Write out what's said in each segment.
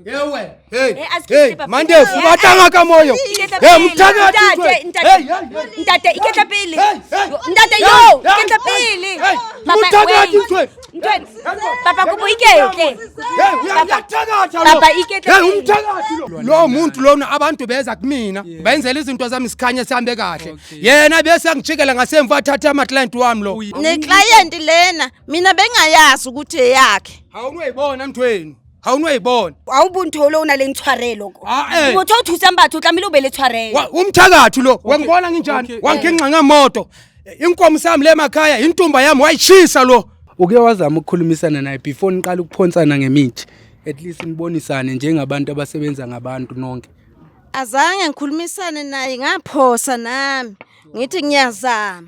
Ewe. Hey. Eh, hey, Mande, eh, o batanga ka moyo. Eh, hey, mtaka ntate, ntate. Ntate, iketla pele. Ntate yo, iketla pele. Mtaka titwe. Papa kubo iketle. Papa iketle. Hey, umtaka tilo. Lo muntu lona abantu beza kumina. Bayenzela izinto zami sikhanye sihambe kahle. Yena bese angijikela ngasemva athatha ama client wami lo. Ne client lena, mina bengayazi ukuthi eyakhe. Awunuyibona mthweni. ga o ne wa e bona a o bonthole o na leng tshwarelo ko Ah, eh. motho o thusang batho o tlamehile o be le tshwarelo Wa- umthakathi lo wangibona nginjani okay. wanginxa ngemoto inkomo sami le emakhaya intumba yami wayishisa lo uke wazama ukukhulumisana naye before niqala ukuphonsana ngemithi at least nibonisane njengabantu abasebenza ngabantu nonke azange ngikhulumisane naye ngaphosa nami ngithi ngiyazama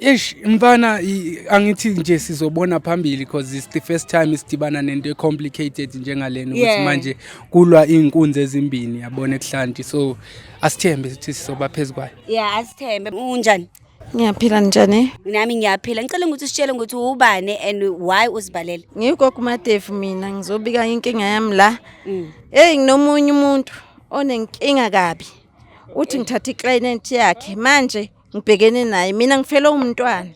Eish mfana angithi nje sizobona phambili because it's the first time isidibana nento complicated njengalena ukuthi yeah. manje kulwa izinkunzi ezimbini yabona ekuhlanti so asithembe ukuthi sizoba phezukwayo yeah asithembe unjani Ngiyaphila njani? Nami ngiyaphila. Ngicela ukuthi usitshele ukuthi ubani and why uzibalele. Ngiyikoko Matefu mina ngizobika inkinga yami la. Mm. Hey nginomunye umuntu onenkinga kabi. Uthi ngithatha iclient yakhe manje ngibhekene naye mina ngifele umntwana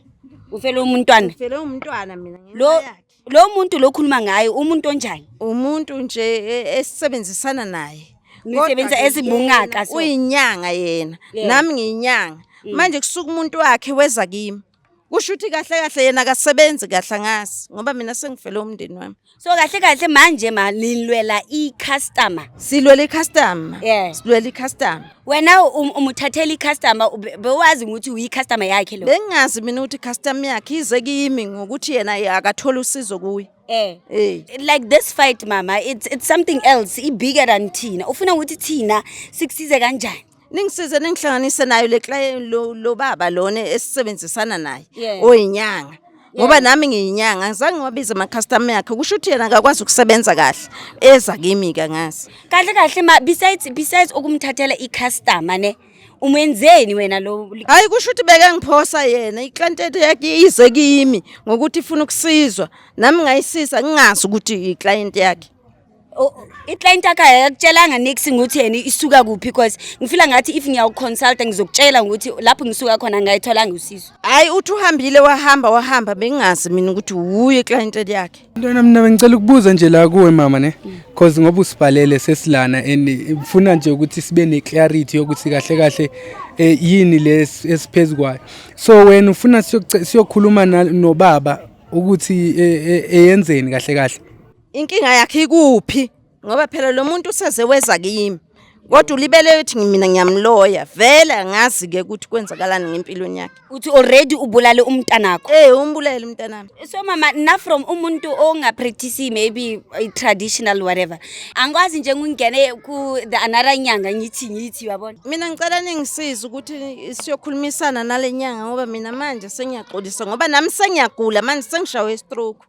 ufele umntwana ngifele umntwana mina ngenxa lo yakhe. lo muntu lo khuluma ngaye umuntu onjani umuntu nje e- esisebenzisana naye Nisebenza Kodwa-ke ezibungaka, yena so. Mm. uyinyanga yena Yebo. nami ngiyinyanga manje kusuka umuntu wakhe weza kimi kusho ukuthi kahle kahle yena akasebenzi kahle angazi ngoba mina sengifele umndeni wami so kahle kahle manje ma nilwela i-customer silwela i-customer yeah. silwela i-customer wena um, umuthathela i-customer bewazi ukuthi uyi-customer yakhe lo bengingazi mina ukuthi i-customer yakhe ize kimi ngokuthi yena akathole usizo kuye eh hey. Eh. like this fight mama it's, it's something else ibigger than thina ufuna ukuthi thina sikusize kanjani ningisize ningihlanganise nayo le client lo, lo baba lona esisebenzisana naye Yeah. oyinyanga ngoba nami ngiyinyanga ngizange ngiwabize ama-customer yakhe kusho ukuthi yena akakwazi ukusebenza kahle eza kimi-ke ngazi kahle kahle ma besides besides ukumthathela i-customer ne umenzeni wena lo hhayi kusho ukuthi bekangiphosa yena iklientete yakhe ize kimi ngokuthi ifuna ukusizwa nami ngayisiza ngingazi ukuthi iklienti yakhe iclient yakho ayakutshela nix ngokuthi yena isuka kuphi because ngifila ngathi if ngiyawuconsulta ngizokutshela ukuthi lapho ngisuka khona ngayitholanga usizo hayi uthi uhambile wahamba wahamba bengingazi mina ukuthi wuye iclient yakhe ntwana mina bengicela ukubuza nje la kuwe mama ne because ngoba usibhalele sesilana and ngifuna nje ukuthi sibe neclarity yokuthi kahle kahle eh, yini lesiphezu kwayo so wena ufuna siyokhuluma nobaba ukuthi eh, eh, eyenzeni kahle kahle Inkinga yakhe ikuphi? Ngoba phela lo muntu useze weza kimi. Kodwa ulibele uthi mina ngiyamloya. Vele angazi ke ukuthi kwenzakalani ngempilweni yakhe. uthi already ubulale umntanakho Eh umbulele umntanami. so mama na from umuntu ongapractice maybe i- traditional whatever angikwazi nje ngingene ku the another nyanga ngithi ngithi yabona Mina ngicela ningisize ukuthi siyokhulumisana nalenyanga ngoba mina manje sengiyaxolisa ngoba nami sengiyagula manje sengishawe stroke.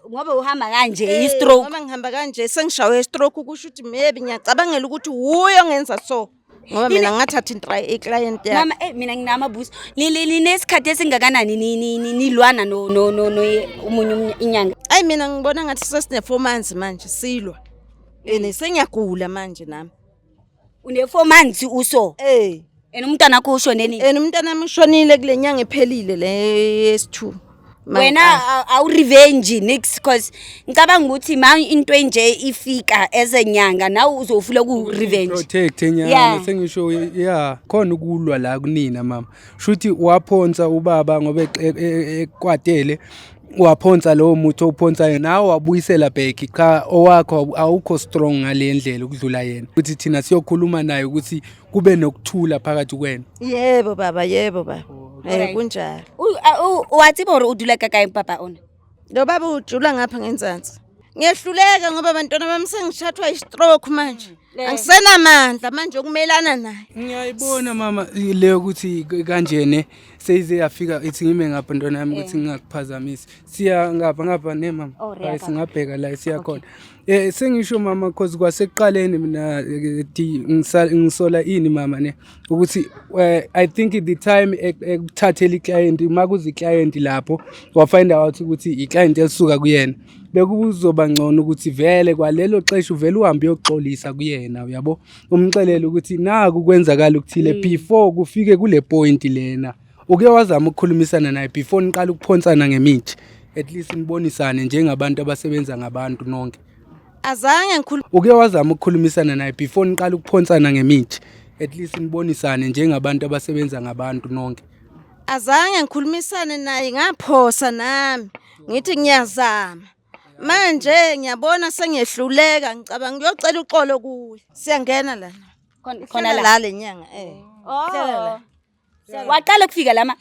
ngoba uhamba kanje eh, i-stroke ngoba ngihamba kanje sengishawe i-stroke kusho ukuthi maybe ngiyacabangela ukuthi wuye ongenza so ngoba mina ngathatha i-client yami mama eh mina nginamabuso ninesikhathi esingakanani nilwana no no no no umunye inyanga ayi mina ngibona ngathi sesine 4 months manje silwa and sengiyagula manje nami Une-four months uso Eh, and umntwana wakho ushone nini and umntana wami ushonile kule nyanga ephelile le yesi-two. Ma- wena ah, a- awurevenge nix cause ngicabanga ukuthi ma into enje ifika as a nyanga nawe uzofuna ukurevenge protect Yeah. enyanga sengisho ya khona ukulwa la kunina mama shuthi waphonsa ubaba ngoba eqe- e- e- ekwatele waphonsa lowo muthi owuphonsayo nawe wabuyisela back cha owakho awukho strong ngale ndlela ukudlula yena ukuthi thina siyokhuluma naye ukuthi kube nokuthula phakathi kwenu yebo baba yebo baba eh kunjalo wathi bor udula kakayi papa ona lo baba ujula ngapha ngenzansi ngiyehluleka ngoba abantwana bami sengishathwa istroke manje Eh. angisenamandla manje okumelana naye ngiyayibona mama le yokuthi kanjene seyize yafika ithi ngime ngapha ntwana yami ukuthi eh. ngingakuphazamisi siya ngapha ngapha ne mama oh, hayi singabheka la siya khona eh sengisho mama cause kwasekuqaleni mina eh, ngisola ini mama ne ukuthi eh, i think the time ekuthathela iclient uma kuze iclient lapho wafind out ukuthi iclient elisuka kuyena bekuzoba ngcono ukuthi vele kwalelo xesha uvele uhambe uyoxolisa kuyena uyabo umxelele ukuthi naku kwenzakala ukuthile mm. before kufike kule point lena uke wazama ukukhulumisana naye before niqala ukuphonsana ngemithi at least nibonisane njengabantu abasebenza ngabantu nonke azange ngikhuluma uke wazama ukukhulumisana naye before niqala ukuphonsana ngemithi at least nibonisane njengabantu abasebenza ngabantu nonke azange ngikhulumisane naye ngaphosa nami ngithi ngiyazama manje ngiyabona sengiyehluleka ngicabanga ngiyocela uxolo kuye siyangena lana khona la lenyanga eh oh. waqala ukufika lama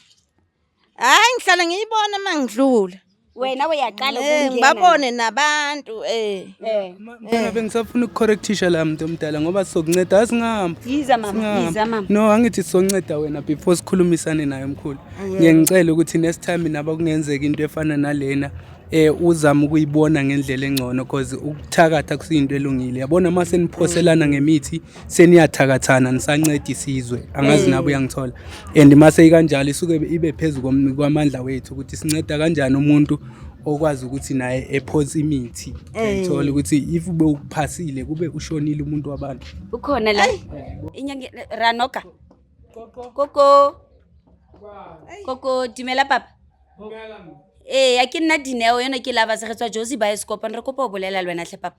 hayi ngihlale ngiyibona uma ngidlula wena uyaqala Eh, ngibabone nabantu eh Eh, Mfana bengisafuna ukucorrectisha la mntu omdala ngoba sizokunceda asingihamba. yiza mama yiza mama No angithi sizonceda wena before sikhulumisane naye mkhulu. Ngiye ngicela ukuthi next time naba kungenzeka into efana nalena eh uzama ukuyibona ngendlela engcono because ukuthakatha kusiyinto elungile. Yabona mase niphoselana ngemithi seniyathakathana nisanceda isizwe angazi mm. nabo uyangithola and mase ikanjalo isuke ibe phezu kwamandla wethu ukuthi sinceda kanjani umuntu okwazi ukuthi naye ephosa imithi ngithola eh. ukuthi if ube ukuphasile kube ushonile umuntu wabantu ukhona la inyanga ranoka koko koko dumela papa ee eh, a ke nna dineo yone ke lava se re tswa josi ba escopan re kopa o bolela le wena tlhe papa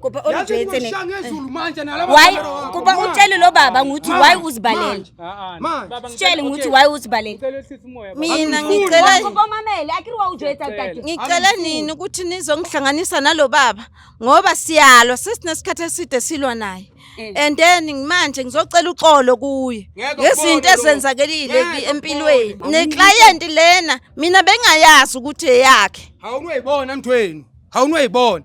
Kuba olujwetse ne. Why kuba utshele lo baba nguthi why uzibalela. Sitshele nguthi why uzibalela. Mina ngicela kuba mamele akiriwa ujwetsa tati. Ngicela nini ukuthi nizongihlanganisa nalo baba ngoba siyalwa sesinesikhathi eside silwa naye. Eh. and then manje ngizocela uxolo kuye ngezinto ezenzakelile empilweni neclient lena mina bengayazi ukuthi eyakhe awunuyibona mthweni awunuyibona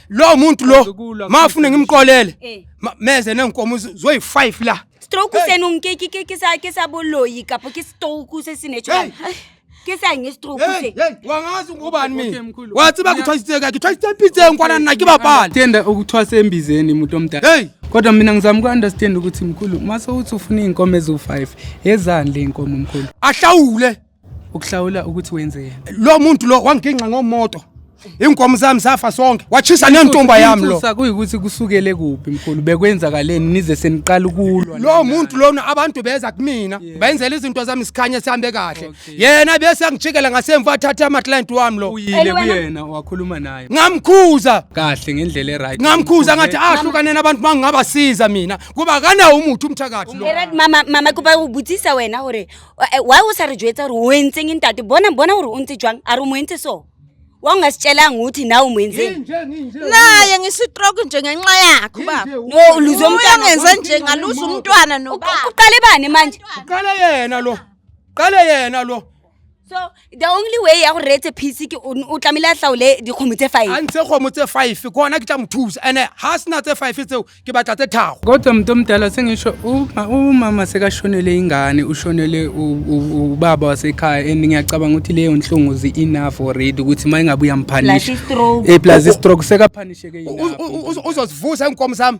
lo muntu lo Azokulwa ma ufune futhi. ngimqolele Eh. ma- meze nenkomo zo- zoyi-five la stroke senong ke ke ke ke sa ke sa boloyi kapo ke stroke se se natural Hey. ke sa nge stroke Hey, se hey, wangazi ngubani Okay, mina mkhulu. wathi Mina- bakuthwasise kakhe thwasise empitseni kwana nina kibabhali Tenda ukuthwasa embizeni muntu omdala. heyi Kodwa mina ngizama uku-understand ukuthi mkhulu, mase uthi ufuna iy'nkomo eziwu-five, ezani le y'nkomo mkhulu? ahlawule ukuhlawula ukuthi wenzeni lo muntu lo wanginxa ngomoto inkomo zami zafa sonke wachisa nentomba yami lo kuyikuthi kusukele kuphi mkhulu bekwenzakaleni nize seniqala ukulwa lo muntu lona abantu beza kumina bayenzela izinto zami sikhanye sihambe kahle yena bese angijikela ngasemva athatha ama client wami lo uyile kuyena wakhuluma naye ngamkhuza kahle ngendlela eright ngamkhuza ngathi ahlukane ah, nabantu mangingabasiza mina kuba kana umuthi umthakathi lo mama mama kuba ubuthisa wena hore Eh, why o sa re jwetsa gore o entseng ntate bona bona gore o ntse jwang a re o mo entse so wa ungasitshelanga ukuthi nawe o mo entseng naye ngisitroke nje ngenxa yakho baba no uluze umntwana uyangenza nje ngaluza umntwana Uqu- nobaba uqale bani manje uqale yena lo qale yena lo so the only way ya go reetse phisi ke o o tlamehile a tlaole dikgomo tse a five ntshe kgomo tse five ke ona ke tla mo thusa ande ga a sena tse five tseo ke batla tse thago kodwa mntu omdala sengisho uma- umama sekashonele ingane ushonele u- u- ubaba wasekhaya and ngiyacabanga ukuthi leyo nhlungu zi-enough already ukuthi uma ingabe uyamphanisha Plus i-stroke. Eh, plus istroke sekapanisheke U- u- u- uzo- uzozivusa iinkomo zami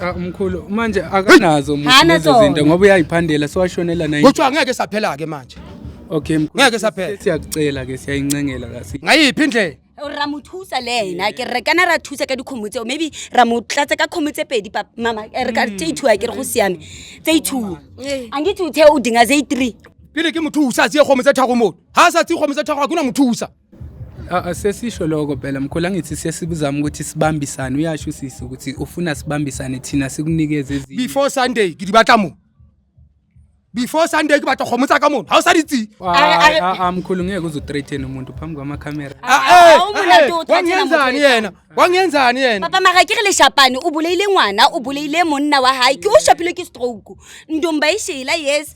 Ah, mkhulu manje akanazo lezo zinto ngoba uyayiphandela siwashonela naye kuthiwa ngeke saphela ke manje okay mkhulu ngeke saphela siyakucela ke siyayincengela kasi ngayiphi indlela ra mo thusa le ena ke re kana ra thusa ka dikgomo tseo maybe ra mo tlatsa ka kgomo tse pedi mama eh, re ka mm. tse ithuwa ke re go siame tse ithuwa eh. a nke tse o dinga tse three pele ke mothusa tse kgomo tse thagomone ga a sa tse kgomo tse thago ga kuna mothusa Sesisho lokho phela mkhulu angithi sesibuzama ukuthi sibambisane uyasho usisi ukuthi ufuna sibambisane thina sikunikeze ezinye. Before Sunday ke di batla mo. Before Sunday ke batla kgomo tsa ka mona. Ha o sa di tsi. A mkhulu ngeke uzo threaten umuntu phambi kwama camera. Ah, eh, eh, wangenzani yena? Wangenzani yena? Papa mara ke re le shapane o buleile ngwana o buleile monna wa hae ke o shapilwe ke stroke. Ndomba e shela yes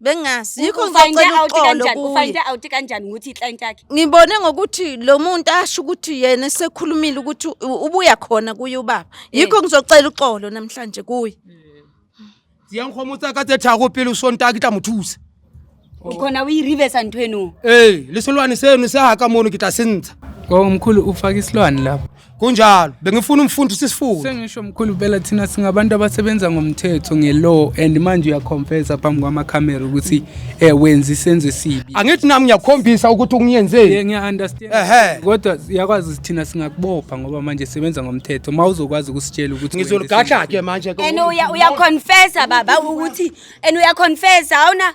bengazi yikho ngizocela uxolo ufayinde out kanjani ukuthi iclient yakhe ngibone ngokuthi lo muntu asho ukuthi yena esekhulumile ukuthi ubuya khona kuye ubaba eh. yikho ngizocela uxolo namhlanje kuye siyangikhoma utsa ka tse thako pele o sontake tla mo thusa ukhona o e reversa ntho eno ee le selwane seno se haka mono ke tla se ntsha o mkhulu o fake isilwane lapho kunjalo bengifuna umfundi sisifunde sengisho mkhulu phela thina singabantu abasebenza ngomthetho nge-law and manje uyaconfesa phambi kwamakhamera ukuthi um wenza isenzo esibi angithi nami ngiyakhombisa ukuthi ungiyenzeni ngiya-understand kodwa yakwazi thina singakubopha ngoba manje sebenza ngomthetho ma uzokwazi ukusitshela ukuthi ngizoligadla-ke manje and uyaconfesa baba ukuthi and uyaconfesa awuna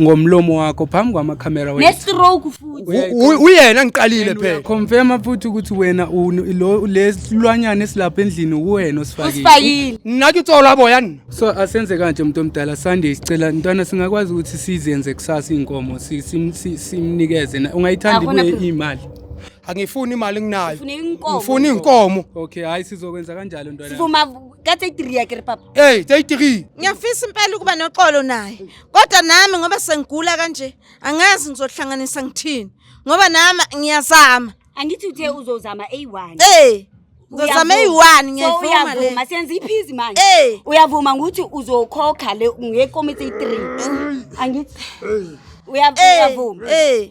ngomlomo wakho phambi kwamakhamera wethu. Nestroke futhi. Uyayi- U- u- uyena ngiqalile And phela uyaconfirma futhi ukuthi wena unu- lo- lesilwanyana esilapha endlini uwena osifakile Usifakile. nginake itsolo aboya nina so asenze kanje muntu omdala sunday sicela ntwana singakwazi ukuthi sizenze kusasa iy'nkomo si- sim- si- simnikeze na- ungayithandi Akona kuye problem. imali angifuni imali nginayo Ngifuna inkomo. ngifuna iy'nkomo okay hhayi sizokwenza kanjalo ntwana Sivuma kathe idriya ke papa. ey teyitiri Ngiyafisa impela ukuba noxolo naye. kodwa nami ngoba sengigula kanje angazi ngizohlanganisa ngithini ngoba nami ngiyazama angithi uthe uzozama eyi-one eh ngizozama eyi-one ngiyayivuma le uyavuma senza iphizi manje eh uyavuma ngokuthi uzokhokha le ngekomiti 3 angithi uyavuma eh, uyavuma eh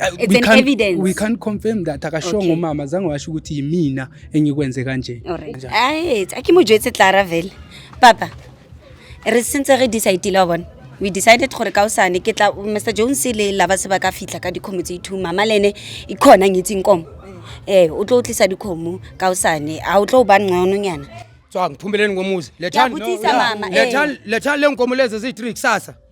uh, It's we an can't- evidence. we can't confirm that akashongo Okay. umama zange washo ukuthi yimina engikwenze kanje Alright. Ai, a ke mo jwetse Clara vele. Papa. Re sentse re decide la bona. We decided gore ka usane ke tla Mr Jones le la ba se ba ka fitla ka dikhomo tse ithu mama lene e khona ngitsing komo. Eh, o tlo tlisa dikhomo ka usane. A o tlo ba ncono nyana. tswang phumele ngomuzi Ke a lethani botsisa mama. eh. lethani lethani lenkomo lezi eziyi-three kusasa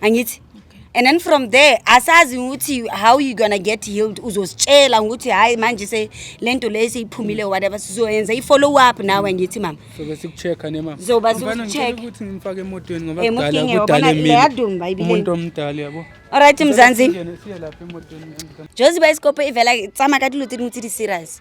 angithi and then from there asazi ukuthi how you gonna get healed uzositshela ukuthi hayi manje se lento le seyiphumile or whatever sizoyenza i-follow up nawe ngithi mama sobe sikucheck-a ne mama zoba Mfana, ngicela sikucheck ukuthi ngimfake emotweni ngoba Eh, kudala mudinge, kudala wabona, emile. leyadumba ibile. umuntu omdala yabo alright mzansi Singene, siye lapha emotweni joziba isikopo ivela tsama ka dilo tse dingwe tse di serious